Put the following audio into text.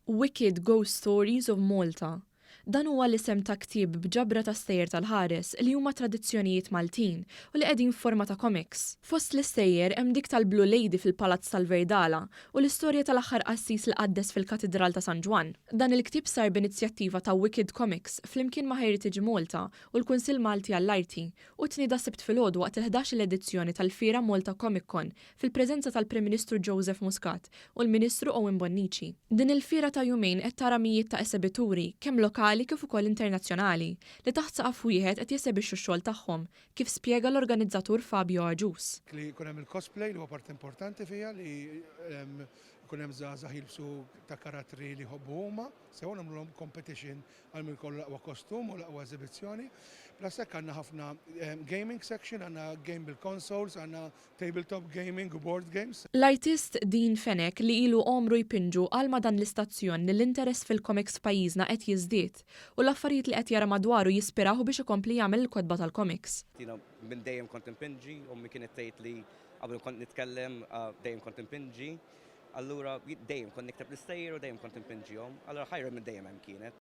Wicked Ghost Stories of Malta Dan huwa l-isem ta' ktieb b'ġabra ta' stejjer tal-ħares li huma tradizzjonijiet Maltin u li qegħdin f'forma ta' komiks. Fost l-istejjer hemm dik tal-Blue Lady fil-Palazz tal-Virdala u l-istorja tal-aħħar qassis li qaddes fil-Katidral ta' San Ġwann. Dan il-ktieb sar b'inizjattiva ta' Wicked Comics flimkien ma' Heritage Malta u l-Kunsill Malti għall-Arti u tnieda Sibt filgħodu waqt il-ħdax-il edizzjoni tal-fiera Malta Comic Con fil-preżenza tal-Prim Ministru Joseph Muscat u l-Ministru Owen Bonnici. Din il-fiera ta' jumejn qed tara mijiet ta' esebituri, kemm lokali kif ukoll internazzjonali, li taħt saqaf wieħed qed jesebixxu x-xogħol tagħhom, kif spjega l-organizzatur Fabio Agius. Li jkun hemm il-cosplay li huwa parti importanti fiha li jkun hemm żgħażagħ jilbsu ta' karattri li jħobbu huma sew u nagħmlulhom competition għal min jkollu l-aqwa kostum u l-aqwa eżibizzjoni. Plus hekk għandna ħafna gaming section, għandna game bil-consoles, għandna Tabletop gaming u board games. L-artist Dean Fenech li ilu għomru jpinġu qal ma' dan l-istazzjon li l-interess fil-komiks f'pajjiżna qed jiżdied u l-affarijiet li qed jara madwaru jispirawh biex ikompli jagħmel il-kotba tal-komiks. Jiena minn dejjem kont inpinġi, ommi kienet tgħid li qabel kont nitkellem dejjem kont inpinġi. Allura dejjem kont nikteb l-istejjer u dejjem kont inpinġihom. Allura ħajr minn dejjem hemm kienet.